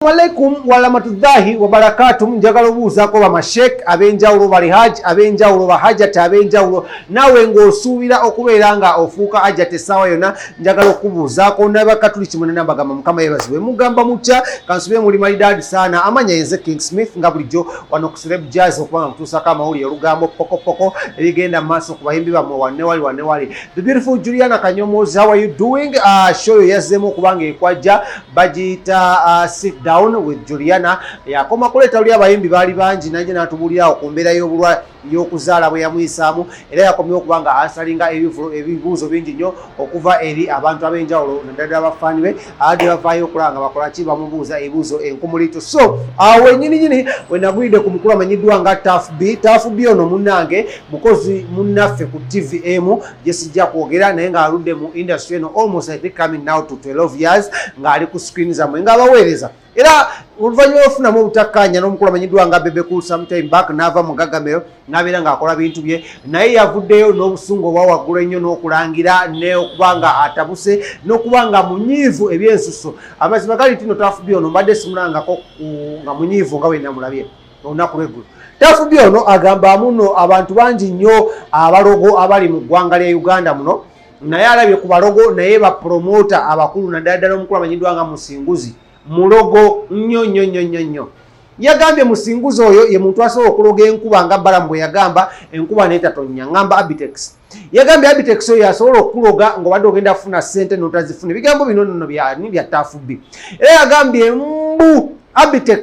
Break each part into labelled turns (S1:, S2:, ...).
S1: Assalamu alaikum warahmatullahi wabarakatuh. Njagala obuuzaako bamashek ab'enjawulo bali haji ab'enjawulo bahajati ab'enjawulo naawe ng'osuubira okubeera nga ofuuka hajati essaawa yonna njagala okubuuzaako nabakatuliki munana bagamba mukama yebazibwe mugamba mutya kansubire muli malidaadi saana amanya yenze king smith nga bulijjo wano kusirebu jazz okuba nga mutuusako amawulire olugambo pokopoko ebigenda maaso ku bayimbi bammwe wanewali wanewali the beautiful juliana kanyomoozi how are you doing uh, show yo yazzeemu okuba nga ekwajja bagiyita uh, sit down with juliana yakoma kuleeta luli abayimbi baali bangi naye natubuulirawo ku mbeera y'obulwa y'okuzaala bwe yamuyisaamu era yakomye okuba nga asalinga ebibuuzo bingi nnyo okuva eri abantu ab'enjawulo naddala abafaani be ade bavaayo okulaba nga bakola ki bamubuuza ebibuuzo enkumulito so awo wenyininyini wenagulidde ku mukulu amanyiddwa nga tafb tafb ono munnange mukozi munnaffe ku tv emu gyesijja kwogera naye ng'aludde mu industry eno almost i think coming now to 12 years ng'ali ku screen zamwe ng'abaweereza era oluvannyuma lwofunamu obutakkaanya n'omukulu amanyiddwa nga bebe cool sometime back n'ava mu gagamero n'abeera ng'akola bintu bye naye yavuddeyo n'obusungu obwa waggulu ennyo n'okulangira n'okuba nga atabuse n'okuba nga munyiivu ebyensusso amazima gali ntino tafubye ono mbadde simulangako nga munyiivu nga wenamulabye olunaku lweggulu tafubi ono agamba muno abantu bangi nnyo abalogo abali mu ggwanga lya uganda muno naye alabye ku balogo naye bapromota abakulu naddala ddala omukulu amanyiddwa nga musinguzi mulogo nnyo nnyo nnyo nnyo nnyo yagambye musinguzi oyo ye muntu asobola okuloga enkuba nga balamu bwe yagamba enkuba naye tatonya ngamba abitex yagambye abitex oyo yasobola okukuloga ngaobadde ogenda kufuna sente notazifuna ebigambo bino nono byani bya tafubi era yagambye mbu abitex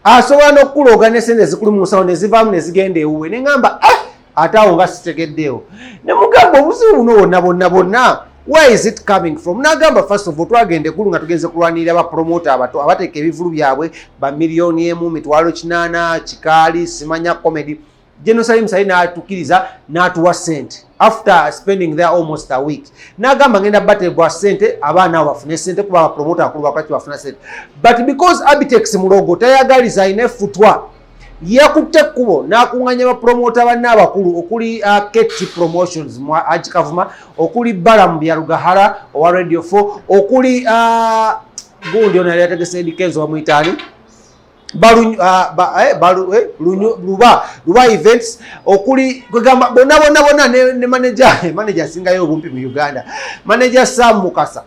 S1: asobola nokukulooga nesente zikulu munsawo nezivaamu nezigenda ewuwe nengamba eh, ate awo nga sitegeddeewo nemugamba obuzibu buno bonna bonna bonna where is it coming from nagamba first of all twagenda ekulu nga tugenze kulwanirira bapromota abato abateeka ebivulu byabwe bamiliyoni emu mitwalo kinaana kikaali simanya comedy General Salim Said n'atukiriza n'atuwa sente after spending there almost a week n'agamba ngenda bateebwa sente abaana abo bafune sente kuba abapromota akulu bakwaki bafuna sente but because Abitex mulogo tayagaliza alina efutwa yakutte ekkubo n'akunganya bapromota banne abakulu okuli uh, kt promotions mu haji kavuma okuli balamu byalugahara owa radio 4 okuli uh, gundi ono yali yategese edikenzo bamuyitaani balu ah, ba, eh, balu eh, lunyu, luba luba events okuli kwegamba bona bona bona ne, ne manager manager singa yo bumpi mu Uganda manager Sam Mukasa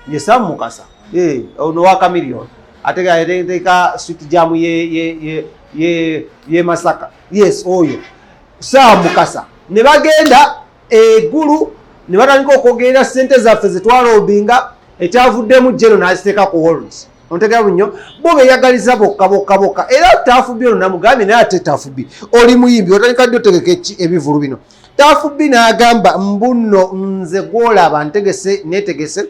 S1: ye Sam Mukasa eh ono wa Chameleon atega atega sweet jam ye ye ye ye, ye Masaka yes oyo Sam Mukasa ne bagenda egulu ne batandika okwogerera sente zaffe zetwalobinga ekyavuddemu jeno naziteeka ku holds ontegera bunyo bo beyagaliza bokka bokka bokka era tafubi ono namugambye naye ate tafubi oli muyimbi otandika ddi otegeka ebivulu bino tafubi n'agamba mbuno nze gwolaba ntegese netegese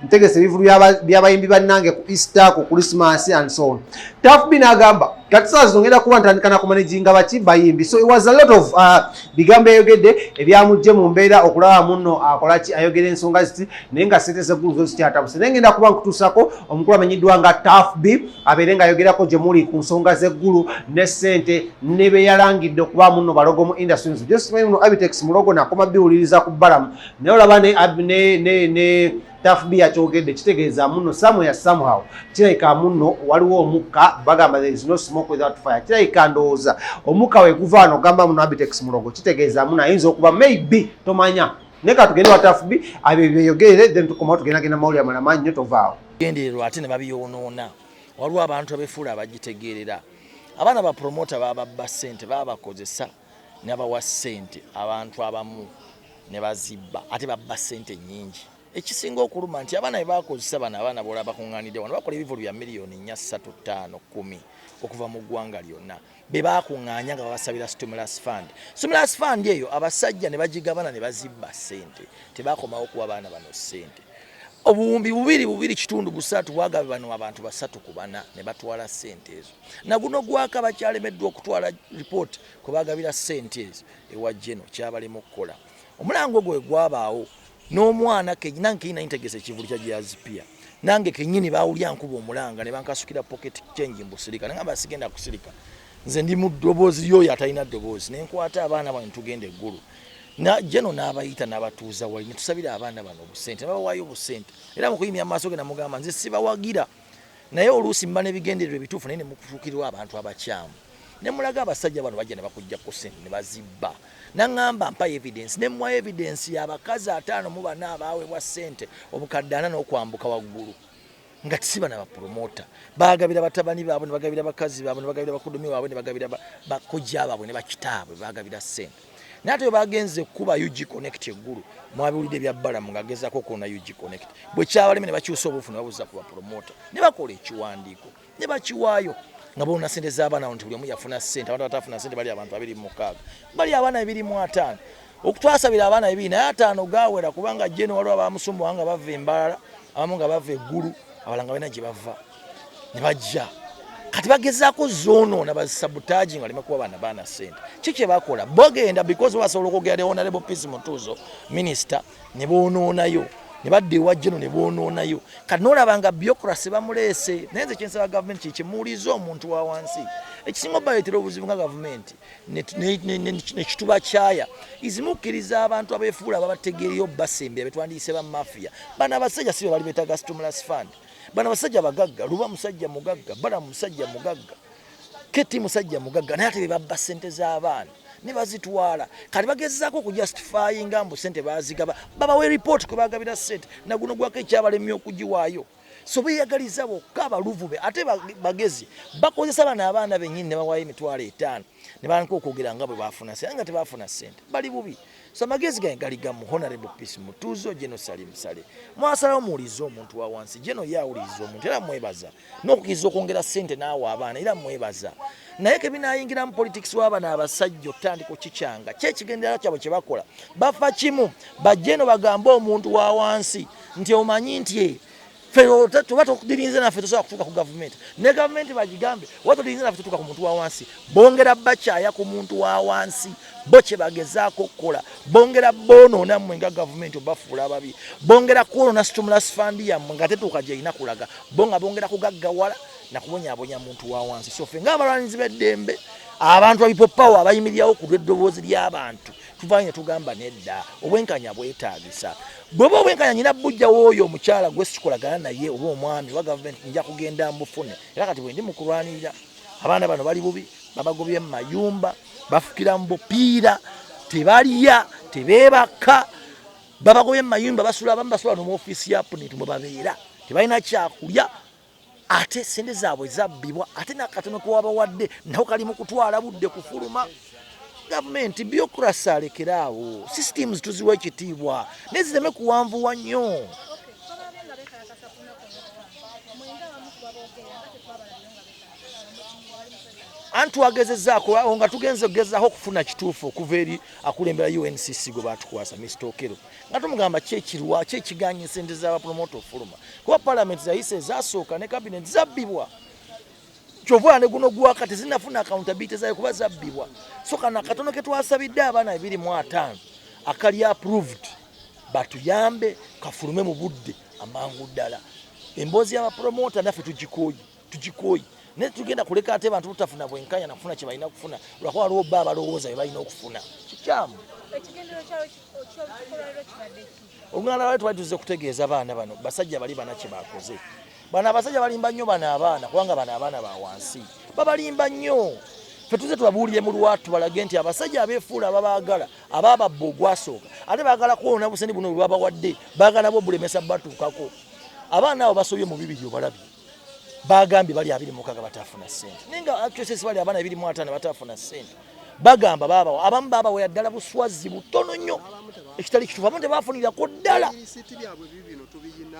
S1: ntegese ebivulu byabayimbi bannange ku easter ku christmas and so on tafbi nagamba kati saa zongera kuba ntandika nakumanaginga baki bayimbi so it was a lot of uh, bigambo yayogedde ebyamujje mu mbeera okulaba muno akolaki ayogera ensonga ziti naye nga sente zeggulu zo zikyatabuse naye ngenda kuba nkutuusako omukulu amenyiddwa nga tafb abeere nga ayogerako gye muli ku nsonga zeggulu ne sente ne beyalangidde okuba muno balogo mu industry just muno abitex mulogo nakoma biwuliriza ku balamu naye olaba ne ne ne ne tafbi yakyogedde kitegeeza muno somewhere somehow kirabika muno waliwo omukka bagamba there is no smoke without fire kirabika ndowooza omukka weguva ano ogamba muno abitex mulogo kitegeeza muno ayinza okuba maybe tomanya naye katugende wa tafbi abyo byeyogere then tukomawo tugendagenda mawuli amalama nnyo tovaawo gendererwa ate ne
S2: babiyonoona waliwo abantu abefuula abagitegeerera abaana bapromota bababba ssente babakozesa nabawa sente abantu abamu nebazibba ate babba sente nyingi ekisinga okuluma nti abaana bebakozesa bano abaana bola bakunganidde wano bakola ebivulu bya miliyoni nya satu tano kumi okuva mu ggwanga lyonna bebakungaanya nga babasabira stimulus fund stimulus fund eyo abasajja nebagigabana nebazibba sente tebakomawo kuwa baana bano sente obuwumbi bubiri bubiri kitundu busatu bwagabe bano abantu basatu ku bana nebatwala sente ezo naguno gwaka bakyalemeddwa okutwala lipooti kwe bagabira ssente ezo ewa jeno kyabalema okukola omulango gwe gwabaawo n'omwana kenyina nkenyina ntegese ekivulu kya jazipia nange kenyini bawulya nkuba omulanga ne bankasukira pocket change mbusirika nangamba sigenda kusirika nze ndi mu ddoboozi lyoyo atalina ddoboozi ne nkwata abaana bano tugenda eggulu jeno n'abayita n'abatuuza wali ne tusabira abaana bano obusente ne babawaayo obusente era mu kuyimya amaaso ge namugamba nze sibawagira naye oluusi muba nebigendererwa ebituufu naye nemukutukirwa abantu abakyamu nemulaga abasajja bano bajja nebakujja kusente nebazibba naŋamba mpa evidence nemwa evidence yabakazi ataano mu bana abaawebwa sente obukadde ana n'okwambuka waggulu nga tisiba na bapromota bagabira batabani baabwe nebagabira bakazi baabwe nebagabira bakudomi waabwe nebagabira bakojja baabwe ne bakitaabwe bagabira sente naye ate bagenze kuba ug connect eggulu mwabiwulidde bya balamu ng'agezaako okwona ug connect bwe kyabaleme ne bakyusa obuufu ne babuza ku bapromota ne bakola ekiwandiiko ne bakiwaayo nga boona sente z'abaana nti buli omu yafuna sente abantu abatafuna sente bali abantu abiri mu mukaaga bali abaana bibiri mu ataano okutwasabira abaana bibiri naye ataano gaawera kubanga jeno waliwo abamusumbuwa nga bava embalala abamu nga bava eggulu abalanga balina gye bava ne bajja kati bagezaako zoonoona basabutaji nga leme kuba baana baana sente ki kye bakola bogenda because basobola okwogera ne honorable peace mutuuzo minisita ne boonoonayo ne badda ewa jeno ne boonoonayo kati noolaba nga biokrasi bamuleese naye nze kyensaba gavumenti kyekimuwuliza omuntu wa wansi ekisinga obaleetera obuzibu nga gavumenti nekituba kyaya izimukkiriza abantu abefuula babategeereyo basembera betwandiyise bamafiya bana abasajja si be bali betaga stumulus fund bana basajja bagagga luba musajja mugagga bala musajja mugagga keti musajja mugagga naye ate bebabba sente z'abaana ne bazitwala kati bagezaako okujustifyinga mbu sente bazigaba babawe report kwe bagabira sente naguno gwako ekyabalemye okugiwaayo so beyagaliza bokka abaluvube ate bagezi bakozesa bana abaana benyini ne bawaayo emitwalo etaano ne baanka okwogera nga bwe baafuna sente nga tebaafuna sente bali bubi so amagezi gange gali gamu honorable peace mutuuzo geno sali musale mwasalawo muwuliriza omuntu wa wansi geno ye awuliriza omuntu era mwebaza n'okukiriza okwongera sente n'awa abaana era mwebaza naye kebinayingiramu politics wabana abasajja okutandika okikyanga kyekigendera kyabwe kyebakola bafa kimu bajeno bagambe omuntu wa wansi nti omanyi nti ffe tuba tudirinze naffe tusobola kutuuka ku gavumenti ne gavumenti bagigambe oba tudirinze naffe tutuuka ku muntu wa wansi bongera bakyaya ku muntu wa wansi bo kye bagezaako okukola bongera boonoona mmwe nga gavumenti obafuula ababi bongera kwonoona stimulus fund yammwe nga tetuuka gyerina kulaga bo nga bongera kugaggawala nakubonyabonya muntu wa wansi so ffe ngaabalwanizi b'eddembe abantu abipoppawo abayimirirawo ku lw'eddoboozi ly'abantu tuvaayo ne tugamba nedda obwenkanya bwetaagisa bweba obwenkanya nyina bujja wooyo omukyala gwe sikolagana naye oba omwami oba gavumenti nja kugenda mbufune era kati bwendi mukulwanirira abaana bano bali bubi babagobye mu mayumba bafukira mu bupiira tebalya tebeebaka babagobye mu mayumba basula abamu basula no mu ofiisi ya puniti mwe babeera tebalina kyakulya ate sente zaabwe zabbibwa ate nakatono kewabawadde nako kali mu kutwala budde kufuluma gavumenti biokrasi alekere awo systems tuziwa ekitiibwa naye zireme kuwanvuwa nnyo anti wagezezaako nga tugenze okugezaako okufuna kituufu okuva eri akulembera uncc gwe batukwasa mr okero nga tumugamba ki ekirwa ki ekiganye esente za bapromota ofuluma kuba palamenti zayise ezasooka ne kabineti zabbibwa kyova ne guno gwaka tezinafuna akawuntabiti zayo kuba zabbibwa so kana akatono ke twasabidde abaana ebiri mu ataano akali approved batuyambe kafulume mu budde amangu ddala emboozi y'abapromota naffe tugikooye tugikooyi naye tugenda kuleka ate bantu butafuna bwenkanya nakufuna kyebalina kufuna lwakuba waliwo bba abalowooza bebalina okufuna kikyamu olunala lwali twali tuze kutegeeza baana bano basajja bali bana kyebakoze bano abasajja balimba nnyo bano abaana kubanga bano abaana ba wansi babalimba nnyo fe tuze tubabuulire mu lwatu balage nti abasajja abefuula ababaagala abababba ogwasooka ate baagala kwona buseni buno bwebabawadde baagala nabwo bulemesa batuukako abaana abo basobye mu bibiri obalabye bagambye bali abiri mukaga batafuna sente naye nga actresses bali abaana ebiri mwatana batafuna sente bagamba babawa abamu babawa yaddala buswazi butono nnyo ekitali kitufu abamu tebafunirako ddala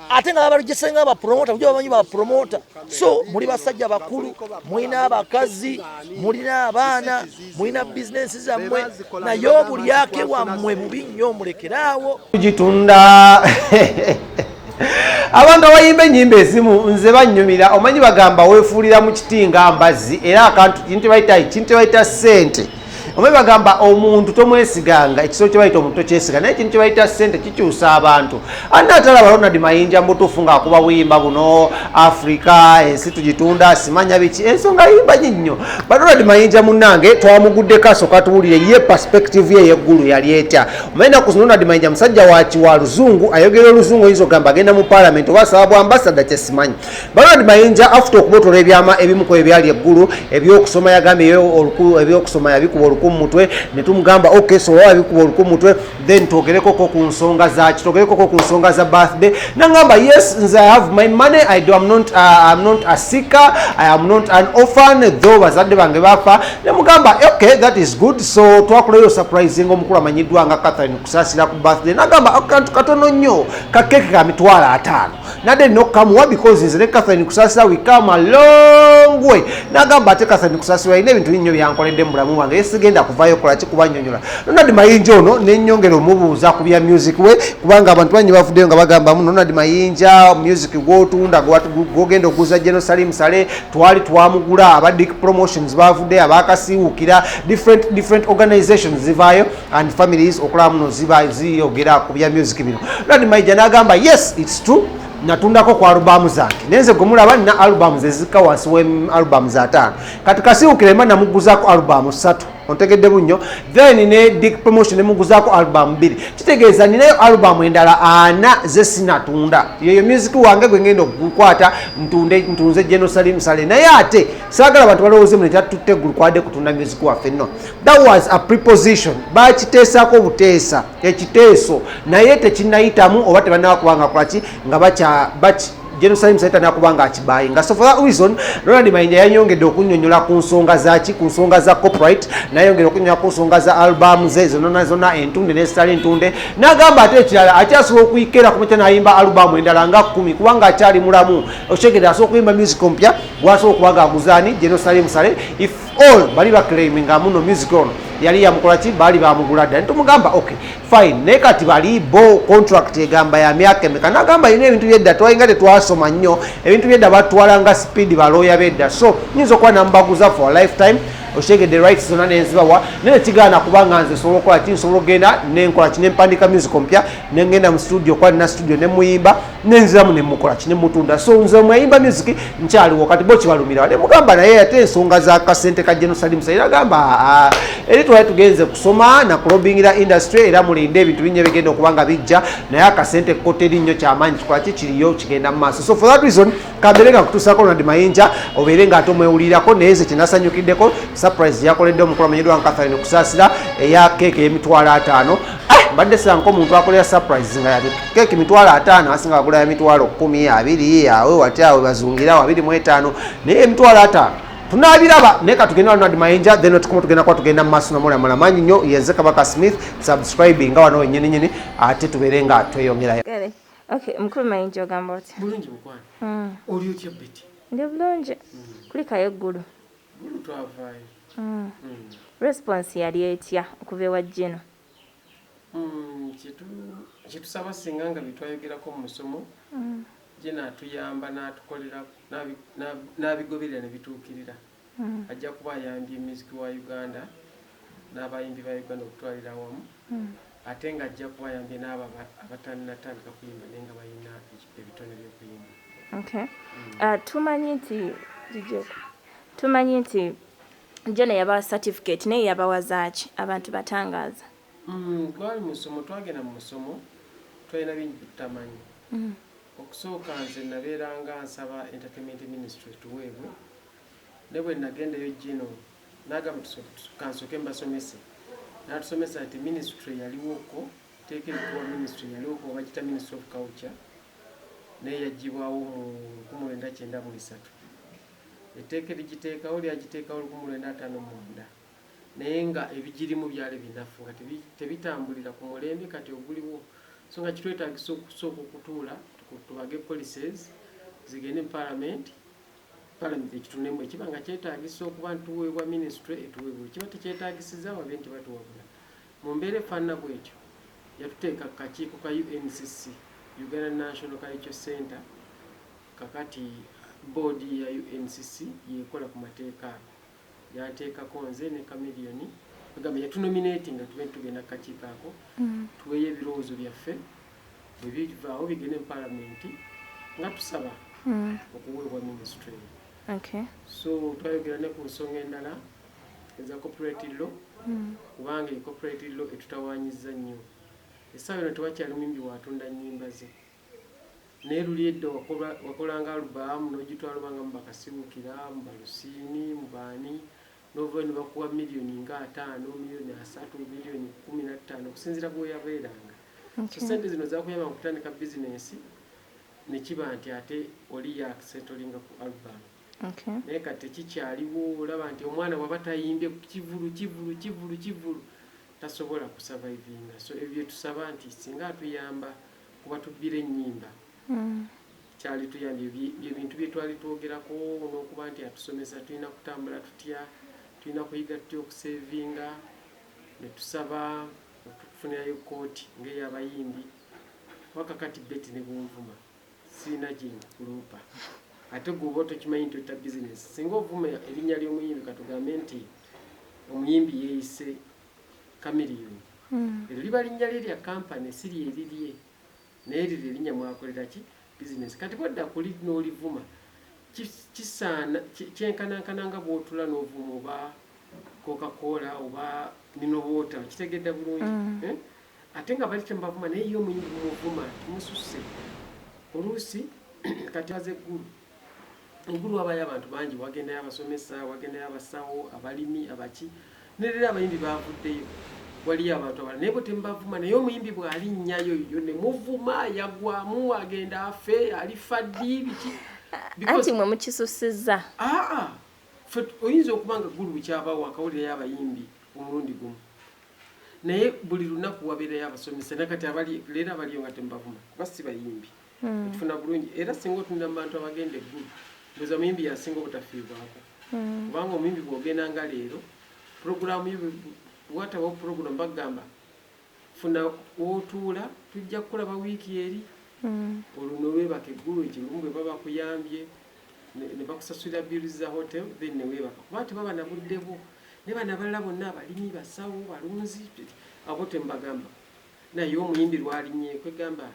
S2: ate nga babajesenga abapromota kuja bamanyi bapromota so muli basajja bakulu mulina abakazi mulina abaana mulina bizinensi zammwe naye obulyake bwammwe bubi nnyo mulekeraawo tugitunda
S1: abantu abayimba enyimba ezimu nze banyumira omanyi bagamba wefuulira mu kiti nga mbazzi era akantu kintu bayita kintu bayita sente omanyi bagamba omuntu tomwesiganga ekisolo kyebayita omuntu tokyesiga naye kintu kyebayita sente kikyusa abantu anna atalaba ronald mayinja mubutuufu ngaakuba buyimba buno africa ensi tugitunda simanya biki ensonga yimba nyi nnyo ba ronald mayinja munange twamuguddeko asooka tuwulire ye perspective ye yeggulu yali etya omanyi naku zino ronald mayinja musajja waki wa luzungu ayogera oluzungu oyinza ogamba agenda mu palamenti oba asaba bwa ambasada kyesimanyi ba ronald mayinja afuta okubotola ebyama ebimuko ebyali eggulu ebyokusoma yagambye ebyokusoma yabikuba oluku mu mutwe ne tumugamba ok so oba wabikuba oluku mu mutwe then twogerekoko ku nsonga zaki twogerekoko ku nsonga za birthday nangamba yes nze i have my money i do am not, uh, am not a seeker i am not an orphan though bazadde bange bafa nemugamba okay that is good so twakulayo surprise nga omukulu amanyiddwa nga catherine kusasira ku birthday nagamba akantu katono nnyo kakeke ka mitwalo ataano nade nina okukamuwa because nze ne catherine kusasira we come along way nagamba ate catherine kusasira alina ebintu binnyo byankoledde mu bulamu bwange esigenda kuvayo kola kikubanyonyola nonadi mayinja ono nenyongera omubuuza ku bya music we kubanga abantu banyi bavuddeyo nga bagambamu nonadi mayinja music gwotunda gwogenda okuguza geno salim sale twali twamugula aba dick promotions bavuddeyo abakasiwukira different different organizations zivaayo and families okulaba muno ziba ziyogera ku bya music bino lani maija nagamba yes its true natundako ku alubamu zange nenze gwemulaba nina alubamu zezika wansi we alubamu zataano kati kasiwukirema namuguzako alubamu satu ontegedde bunnyo then ne dick promotion nemuguzako alubamu bbiri kitegeeza ninayo alubamu endala ana zesinatunda yeyo music wange gwengenda okukwata ntunde ntunze genosalim sale naye ate saagala bantu balowooze muno kyatutte gulu kwade kutunda music waffe no that was a preposition bakiteesaako buteesa ekiteeso naye tekinayitamu oba tebanaba kubanga kulaki nga bakya baki jerusalem saita nakuba nga akibaye nga so for that reason ronald mayinja yayongedde okunyonyola ku nsonga zaki ku nsonga za copyright nayongera okunyonyola ku nsonga za album ze zonona zona entunde nezitali entunde nagamba ate ekirala akyasobola okuyikera kumakya nayimba album endala nga kumi kubanga akyali mulamu okyegedde asobola okuyimba music ompya gwasobola okuba nga aguzaani jerusalem sale if all bali ba claiming amuno music on yali yamukola ki bali bamugula dda nitumugamba ok fine naye kati bali bo contract egamba ya myaka emeka nagamba yina ebintu byedda twalinga tetwasoma nnyo ebintu byedda batwalanga speed balooya bedda so nyinza okuba namubaguza for lifetime okitegedde rights zonna nenzibawa naye kigaana kubanga nze nsobola okukola ki nsobola okugenda nenkola ki nempandika music ompya nengenda mu studio okuba nina studio nemuyimba nenziramu nemukolaki nemutunda so nze mweyimba music nkyaliwo kati bo kibalumirawo nemugamba naye ate ensonga za kasente ka genocide musa era gamba ah, eri twali tugenze kusoma nakulobingira industry era mulinde ebintu binyo bigenda okuba nga bijja naye akasente koteri nnyo kyamaanyi kikolaki kiriyo kigenda mu maaso so for that reason kabere nga kutuusako ronald mayinja obeere nga ate omwewulirako naye ze kyenasanyukiddeko surprise yakoledde omukulu amanyiddwa nga katharine kusaasira eya keeka emitwalo ataano ah, mbadde sanka omuntu akolera surprise nga yati keeka emitwalo ataano asinga agula ya mitwalo kumi abiri awe wati awe bazungirawo abiri mu etaano naye emitwalo ataano tunabiraba naye katugenda ronald mayinja then otukomu tugenda kuba tugenda mu maaso nomulamula manyi nnyo yenze kabaka smith subscribing nga wano wenyininyini ate tubeere nga tweyongerayo Okay, mukulu
S3: mayinja ogamba otya? Bulungi mukwano. Mm.
S4: Oli otya Betty? Ndi bulungi. Mm.
S3: Kulikayo eggulu. Gulu twavaayo.
S4: Mm. Mm.
S3: Response yali etya okuva ewa Gino? Mm, kitu
S4: kitusaba singa nga bitwayogerako mu musomo. Mm. Gino atuyamba n'atukolera n'abigoberera ne bituukirira. Ajja kuba ayambye myuziki wa Uganda n'abayimbi ba Uganda okutwalira awamu ate ng'ajja kuba ayambye n'abo abatannatandika kuyimba naye nga balina ebitone by'okuyimba. Ah, tumanyi nti
S3: tumanyi nti jona yabawa certificate naye yabawa zaaki abantu batangaaza mm, twali
S4: musomo twagenda mu musomo twalina bingi byetutamanyi mm. okusooka nze nabeeranga nsaba entertainment ministry tuweebwe Ne bwe nagendayo Gino n'agamba ka nsooke mbasomese. N'atusomesa nti minisitule eyaliwo ko tteeka erikuwa minisitule eyaliwo ko bagiyita Ministry of Culture naye yaggyibwawo mu lukumi lwenda kyenda mu esatu. Etteeka erigiteekawo lyagiteekawo lukumi lwenda ataano mu mwenda naye nga ebigirimu byali binafu nga tebitambulira ku mulembe kati oguliwo so nga kitwetagisa okusooka okutuula tubage policies zigende mu palamenti Palamenti ekitunemu ekiba nga kyetaagisa okuba nti tuweebwa minisitule etuweebwa ekiba tekyetaagisiza babe nti batuwabula. Mu mbeera efaanana bw'etyo yatuteeka ku kakiiko ka UNCC, Uganda National Cultural Centre, kakati bboodi ya UNCC y'ekola ku mateeka ago. yanteekako nze ne Chameleone bagamba yatunominatinga tube tugenda kukakiiko ako mm. tuweeyo ebirowoozo byaffe bwe bivaawo bigende mu palamenti nga tusaba mm. okuweebwa minisitule eyo so twayogera ne ku nsonga endala eza copyright law mm. kubanga ecopyright law etutawanyiza nnyo essaawa eno tewakyali muyimbi watunda nnyimba ze Naye luli edda wakola wakolanga album nojitwala oba nga muba kasiwukira, muba lusiini, muba ani novayo nebakuwa million nga ataano, million asatu, million kumi na ttaano okusinzira bwoyabeeranga. So sente zino zakuyamba mu kutandika business nekiba nti ate oli yakusettlinga ku album. Naye kati tekikyaliwo olaba nti omwana bwaba tayimbye kivulu kivulu kivulu kivulu tasobola ku survivinga. So ebyo byetusaba nti singa atuyamba. kuba tubbira ennyimba kyali tuyambye bye bintu bye twali twogerako n'okuba nti atusomesa tulina kutambula tutya tulina kuyiga tutya okuseevinga ne tusaba okutufunirayo kkooti ng'ey'abayimbi waka kati beti ne bunvuma sirina gye nkuloopa ate gwe oba tokimanyi nti otta bizinesi singa ovuma erinnya ly'omuyimbi katugambe nti omuyimbi yeeyise Chameleone. Eryo liba linnya lye lya company si lye lirye. Naye eryo lye linnya mw'akolera ki? Bizinensi. Kati bw'odda ku liri n'olivuma ki, kisaana, ki, kyenkanankana nga bw'otuula n'ovuma oba Coca Cola oba Mineral Water. Okitegedda bulungi? Eh? Ate nga bali temubavuma naye ye omuyimbi mumuvuma. Kimususse. Oluusi kati aze Gulu. Engulu wabayo abantu bangi wagendayo abasomesa wagendayo abasawo abalimi abaki nerera abayimbi bavuddeyo waliyo abantu abala naye bwetembavuma naye omuyimbi bwali nnyayo yo nemuvuma yagwamu agenda afe alifa ddi biki anti mwe
S3: mukisusiza aa
S4: fe oyinza okuba nga gulu bukyabawo akawulirayo abayimbi omulundi gumu naye buli lunaku wabeerayo abasomesa nakati abali leero abaliyo nga tembavuma kuba si bayimbi hmm. okifuna bulungi era singa otunira mu bantu abagenda eggulu ndoza muyimbi yasinga obutafiibwako hmm. kubanga omuyimbi bwogenda nga leero puroguramu yo watabawo puroguramu bagamba funa wotuula tujja kukulaba wiiki eri hmm. olwo newebaka eggulu ekilumu bwe baba kuyambye ne bakusasulira bill za hotel then ne weebaka kuba tebaba na budde bwo ne bana balala bonna abalimi basawo balunzi abo tembagamba naye omuyimbi lwalinye kwegamba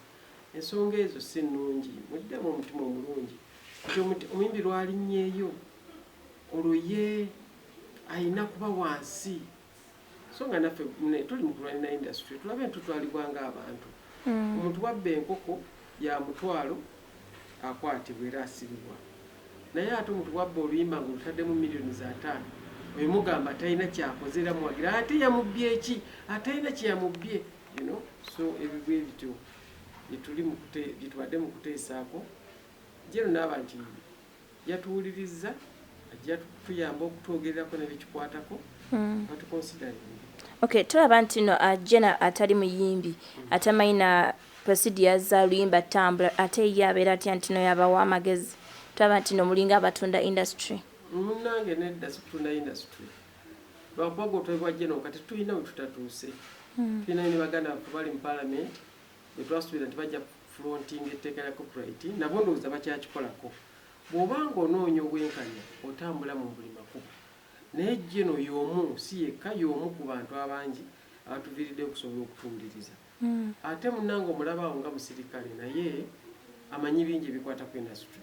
S4: Ensonga ezo si nnungi. Muddemu omutima omulungi nti omuyimbi lw'alinnyeyo olwo ye alina kuba wansi so nga naffe tuli mu kulwanira indasitule tulabe ntutwalibwa ng'abantu. Hmm. Omuntu wabba enkoko ya mutwalo akwatibwa era asibibwa. Naye ate omuntu bwabba oluyimba nga olutaddemu miliyoni za ataano oyo mugamba talina kyakoze era muwagira ate yamubbye ki atalina kye yamubbye you know so ebyo bwe bityo byetuli mukute byetubadde mu kuteesaako jero naaba nti yatuwulirizza ajja tuyamba okutwogererako nebikikwatako hmm. batukonsidali okay tulaba
S3: nti no uh, jena atali muyimbi hmm. atamanyi na presidia za luyimba tambula ate ye abeera atya ntino yabawa amagezi tulaba nti no mulinga abatunda industry munange
S4: nedda sikutunda industry Lwakubaga otwebwa general kati tulina wetutatuuse hmm. tulinayo ne baganda baffe bali mu parliament betwasuubira nti bajja fronting etteeka lya copyright nabo ndowooza bakyakikolako bwoba nga onoonya obwenkanya otambula mu buli makubo naye jeno yomu si yekka yomu ku bantu abangi abatuviiridde okusobola okutuwuliriza hmm. ate munange omulabaawo nga musirikale naye amanyi bingi ebikwata ku industry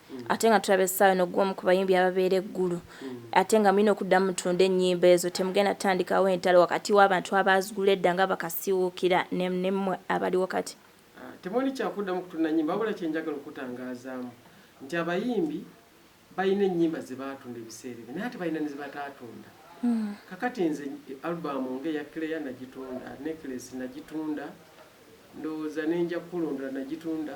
S3: ate nga tulaba essaawa eno gwomu ku bayimbi ababeera e Gulu ate nga mulina okuddamu mutunde ennyimba ezo temugenda tandikawo entalo wakati w'abantu abaazigula edda nga bakasiwuukira ne mmwe abaliwo kati. Temuli
S4: kyakuddamu kutunda nnyimba wabula kye njagala okukutangaazaamu nti abayimbi balina ennyimba ze baatunda ebiseera ebyo naye ate balina ne ze bataatunda. Kakati nze alubamu ng'eya Claire nagitunda, Necklace nagitunda, ndowooza ne Njakukulondoola nagitunda.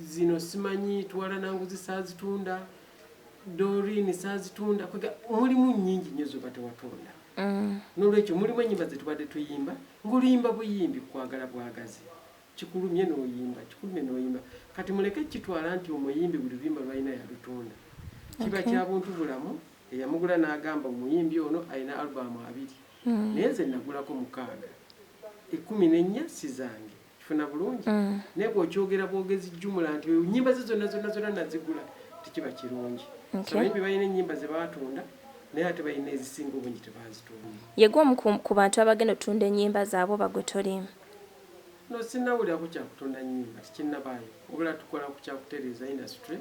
S4: zino simanyi twala nanguzi sazitunda dorini sazitunda kwega mulimu nyingi nyo zoba tewatonda mm. nolwekyo mulimu enyimba zetubadde tuyimba ngoluyimba buyimbi kwagala bwagazi kikulumye noyimba kikulumye noyimba kati muleke kitwala nti omuyimbi buli luyimba lwalina yalutonda kiba okay. kyabuntu bulamu eyamugula nagamba omuyimbi ono alina albamu abiri mm. naye nze nagulako mukaaga ekumi nenya sizange kifuna bulungi mm. naye bwokyogera bwogezi jumula nti nyimba ze zonna zonna zonna nazigula tekiba kirungi soyimbi balina enyimba zebatunda naye ate balina ezisinga obungi tebazitunda yegwe omu ku
S3: bantu abagenda otunda enyimba zaabwe oba gwe tolimu no
S4: sinawulirako kyakutunda nyimba tikinabaayo obula tukola ku kyakutereeza industry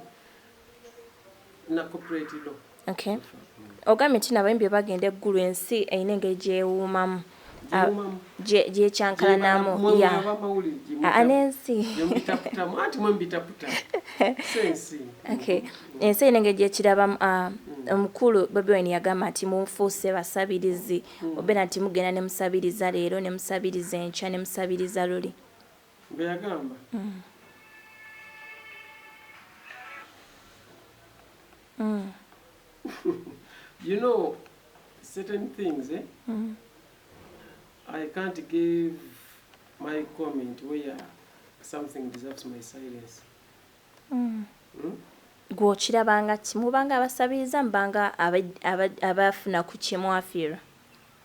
S4: Okay.
S3: Ogambye nti nabayimbi bebagenda eggulu ensi erina engeri gyewuumamu ah, gyekyankalanamu ah, nensi ensi erina engeri gyekirabamu ah, mm. omukulu bobi wine yagamba nti mufuuse basabirizi mm. obeera nti mugenda nemusabiriza leero nemusabiriza enkya nemusabiriza luli Bwe yagamba.
S4: You know certain things eh? I can't give my comment where something deserves my silence. Mm.
S3: Mm? gwokirabanga ki mubanga abasabiriza mubanga abafuna ku kyemwafiirwa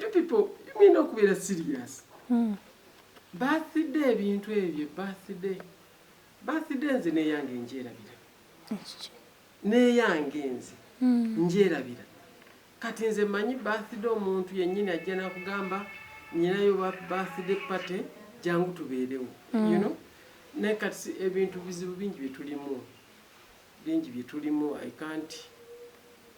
S4: you people you mean okubeera serious hmm. birthday ebintu ebyo birthday birthday nze neyange njerabira neyange nze hmm. njerabira kati nze manyi birthday omuntu yenyini ajja nakugamba nyinayo birthday party jangu tubeerewo you hmm. know naye kati ebintu bizibu bingi byetulimu bingi byetulimu i can't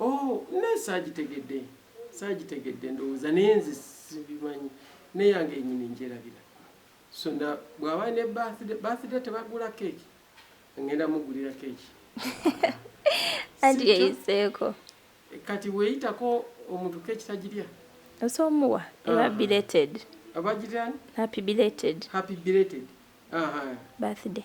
S3: Oh
S4: naye saagitegedde saagitegedde ndowooza naye nze sibimanyi neyange enyini njerabira so na bwaba ne birthday birthday tebagula keeki ngenda mugulira keeki
S3: anti yeyiseeko kati
S4: weyitako omuntu keeki tagirya osobola omuwa
S3: eba ah. belated abagirani
S4: happy belated
S3: happy belated birthday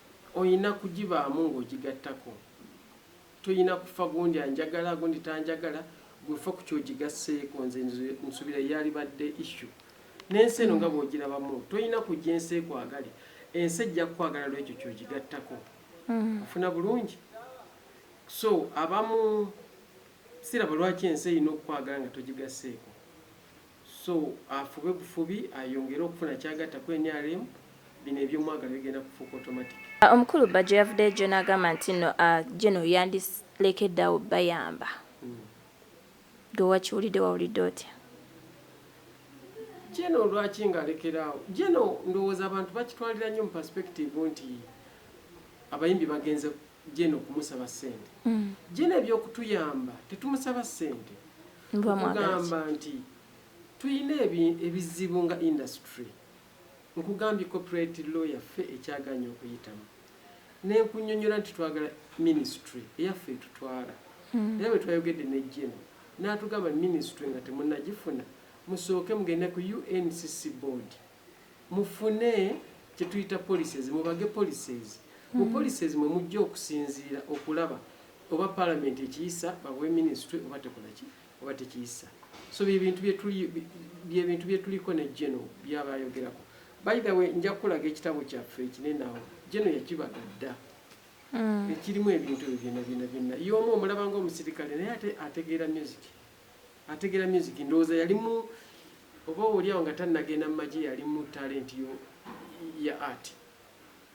S4: Olina kugibaamu ng'ogigattako. Tolina kufa gundi anjagala gundi tanjagala, ggwe ffa ku ky'ogigasseeko. Nze nsubira ye yalibadde issue. N'ensi eno nga bw'ogirabamu, tolina kujja ensi ekwagale. Ensi ejja kukwagala lw'ekyo ky'ogigattako. Ofuna bulungi? So abamu siraba lwaki ensi erina okukwagala nga togigasseeko. So afube bufubi ayongere okufuna kyagatta ku nrm, bino ebyomwagala bigenda kufuuka automatic. Omukulu Bajjo
S3: yavudeyojjo nagamba nti nno a General yandilekedde awo obayamba. Gwe wakiwulidde wawulidde otya?
S4: General lwaki nga alekera awo? General ndowooza abantu bakitwalira nnyo mu perspective nti abayimbi bagenze Jane okumusaba ssente. Jane eby'okutuyamba tetumusaba ssente. Nkugamba nti tulina ebizibu nga industry. Nkugambye copyright law yaffe ekyagaanye okuyitamu. Ne nkunnyonnyola nti twagala minisitule eyaffe etutwala. Era bwe twayogedde ne Jane n'atugamba minisitule nga temunnagifuna musooke mugende ku UNCC board. Mufune kye tuyita policies, mubage policies. Mu policies mwe mujja okusinziira okulaba oba Palamenti ekiyisa, babawe Minisitule oba tekola ki? Oba tekiyisa. So bye bintu bye tuli, bye bintu bye tuliko ne Geno by'aba ayogerako. By the way, nja kukulaga ekitabo kyaffe ekinene awo. Geno yakibaga dda. Ekirimu ebintu ebyo byonna byonna byonna. Ye omu omulaba ng'omusirikale naye ate ategeera music. ategera music ndowoza yalimu oba olyawo nga tanagenda mumaje yalimu talent yo ya art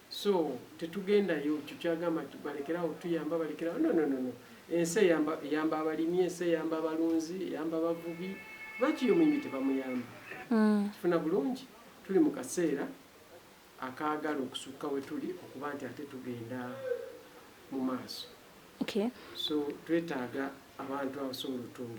S4: so tetugendayo kyo kyagamba balekerawo tuyamba balekerawo no no no no ensi eyamba eyamba abalimi ensi eyamba abalunzi eyamba abavubi lwaki yo muyimbi tebamuyamba mm. tufuna bulungi tuli mu kaseera akaagala okusukka we tuli okuba nti ate tugenda mu maaso so twetaaga abantu abasobola otunga